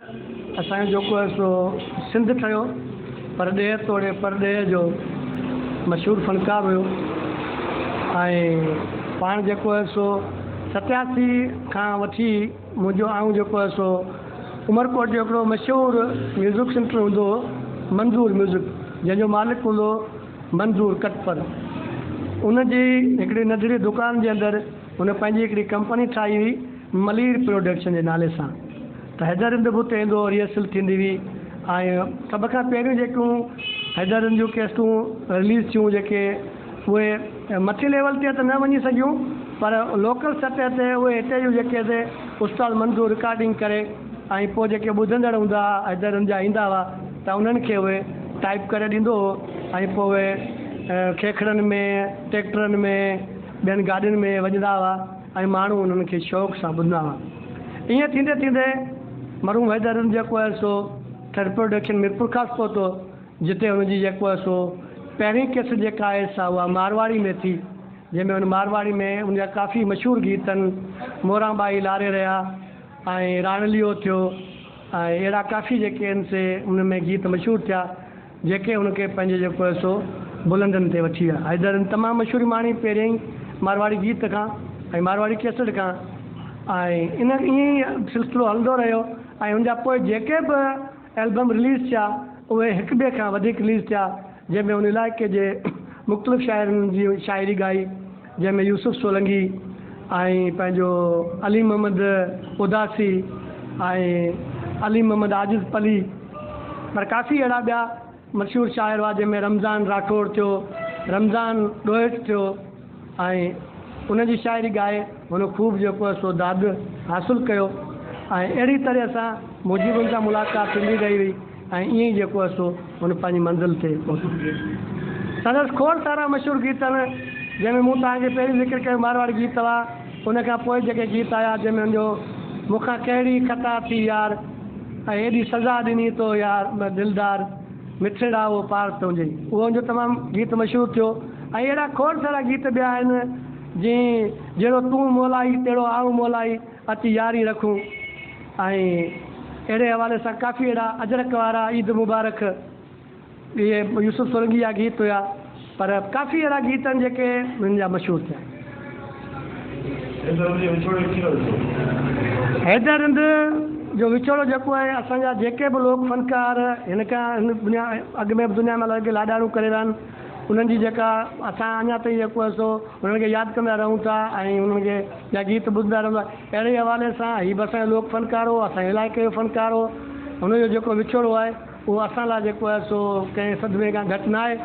اسان جو جيڪو هي سو سنڌ ٺهيو. پرڏيهه توڙي پرڏيهه جو مشهور فنڪار هيو ۽ پاڻ جيڪو هي سو ستياسي کان وٺي منهنجو آئون جيڪو هي سو عمرڪوٽ جو هڪڙو مشهور ميوزڪ سينٽر هوندو هو منظور ميوزڪ جنهن جو مالڪ هوندو هو منظور ڪٽپر ان جي هڪڙي ننڍڙي دڪان جي اندر هن پنهنجي هڪڙي ڪمپني ٺاهي هئي. ملير پروڊڪشن جي نالي سان ته حيدر هند به اتي ايندو هو ريهرسل ٿيندي هئي ۽ سڀ کان پهريون جيڪيون حيدر هند جون ڪيسٽون رليز ٿيون جيڪي اهي مٿي ليول تي ته نه وڃي سگهيون پر لوڪل سطح تي اهي هتي جون جيڪي سي استاد منظور رڪارڊنگ ڪري ۽ پوء جيڪي ٻڌندڙ هوندا هئا حيدر هند جا ايندا هئا ته انهن کي اهي ٽائيپ ڪري ڏيندو هو ۽ پوء اهي کيکڙن ۾ ٽيڪٽرن ۾ ٻين گاڏين ۾ وڄندا هئا ۽ ماڻهو انهن کي شوق سان ٻڌندا هئا. ائين ٿيندي ٿيندي مرحوم حيدر علم جيڪو هئس سو ٿرڊ پروڊڪشن ميرپورخاص پهتو، جتي هن جي جيڪو هئس سو پهرين ڪيسٽ جيڪا آهي سا اها مارواڙي ۾ ٿي، جنهن ۾ هن مارواڙي ۾ ان جا ڪافي مشهور گيت آهن، موران ٻائي لاري رهيا ۽ راڻليو ٿيو ۽ اهڙا ڪافي جيڪي آهن سي ان ۾ گيت مشهور ٿيا. جيڪي هن کي پنهنجي جيڪو آهي سو بلندين تي وٺي ويا. حيدر هن تمام مشهور ماڻي پهريائين مارواڙي گيت کان ۽ مارواڙي ڪيسٽ کان ۽ ان ائين ئي سلسلو هلندو رهيو ۽ ان جا پوء جيڪي به البم رليز ٿيا اهي هڪ ٻئي کان وڌيڪ رليز ٿيا جنهن ۾ هن علائقي جي مختلف شاعرن جي شاعري ڳائي جنهن ۾ يوسف سولنگي ۽ پنهنجو علي محمد اداسي ۽ علي محمد عاجز پلي پر ڪافي اهڙا ٻيا مشهور شاعر هئا جنهن ۾ رمضان راٺوڙ ٿيو، رمضان ڏوهيٽ ٿيو ۽ انهن جي شاعري ڳائي هن خوب جيڪو آهي سو داد حاصل ڪيو ۽ اهڙي طرح سان منهنجي به ان سان ملاقات ٿيندي رهي هئي. ۽ ائين ئي جيڪو هئس سو هن پنهنجي منزل تي پهتو. سندس کوڙ سارا مشهور گيت آهن، جنهن ۾ مون توهان کي پهرين ذڪر ڪيو مارواڙي گيت هئا، ان کان پوء جيڪي گيت آيا، جنهن ۾ هن جو مون کان ڪهڙي خطا ٿي يار، ۽ هيڏي سزا ڏني تو يار دلدار، مٺڙا اهو پار تنهنجي، اهو هن جو تمام گيت مشهور ٿيو ۽ اهڙا کوڙ سارا گيت ٻيا آهن، جيئن جهڙو تون مولائي، تهڙو آئون مولائي. اچ ياري رکون ۽ اهڙي حوالي سان ڪافي اهڙا اجرڪ وارا عيد مبارڪ اهي يوسف سرنگي جا گيت هيا پر ڪافي اهڙا گيت آهن جيڪي هن جا مشهور ٿيا. حيدر هند جو وڇوڙو جيڪو آهي اسان جا جيڪي به لوڪ فنڪار هن کان هن دنيا اڳ ۾ به دنيا ۾ لڳ لاڏاڻو ڪري ويا آهن انهن جي جيڪا اسان اڃا تائين جيڪو آهي سو انهن کي ياد ڪندا رهون ٿا ۽ انهن کي جا گيت ٻڌندا رهندو آهي اهڙي حوالي سان هي به اسان جو لوڪ فنڪار هو اسان جي علائقي جو فنڪار هو هن جو جيڪو وڇوڙو آهي اهو اسان لاء جيڪو آهي سو ڪنهن صدمي کان گهٽ ناهي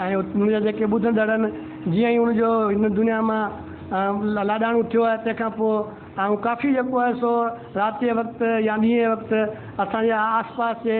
۽ هن جا جيڪي ٻڌندڙ آهن جيئن ئي هن جو هن دنيا مان لاڏاڻو ٿيو آهي تنهن کان پوء آئون ڪافي جيڪو آهي سو رات جي وقت يا ڏينهن جي وقت اسان جي آس پاس جي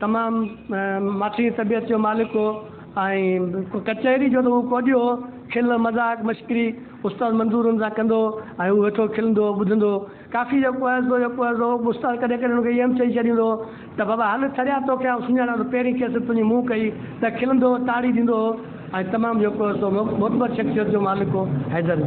تمام ماٺيء طبيعت جو مالڪ هو ۽ ڪچهري جو ته هو ڪوڏيو هو. کل، مذاق، مشڪري استاد منظور هن سان ڪندو هو ۽ هو ويٺو کلندو هو، ٻڌندو هو. ڪافيء جو ڪوهيزو جو ڪوهيزو هو. استاد ڪڏهن ڪڏهن هن کي ايم چئي ڇڏيندو هو ته بابا هل ٿريا توکي آئون سڃاڻان ٿو. پهرين کيس تنهنجي منهن ڪئي ته کلندو هو، تاڙي ڏيندو هو ۽ تمام جو ڪوهيزو هو. معتبر شخصيت جو مالڪ هو حيدر.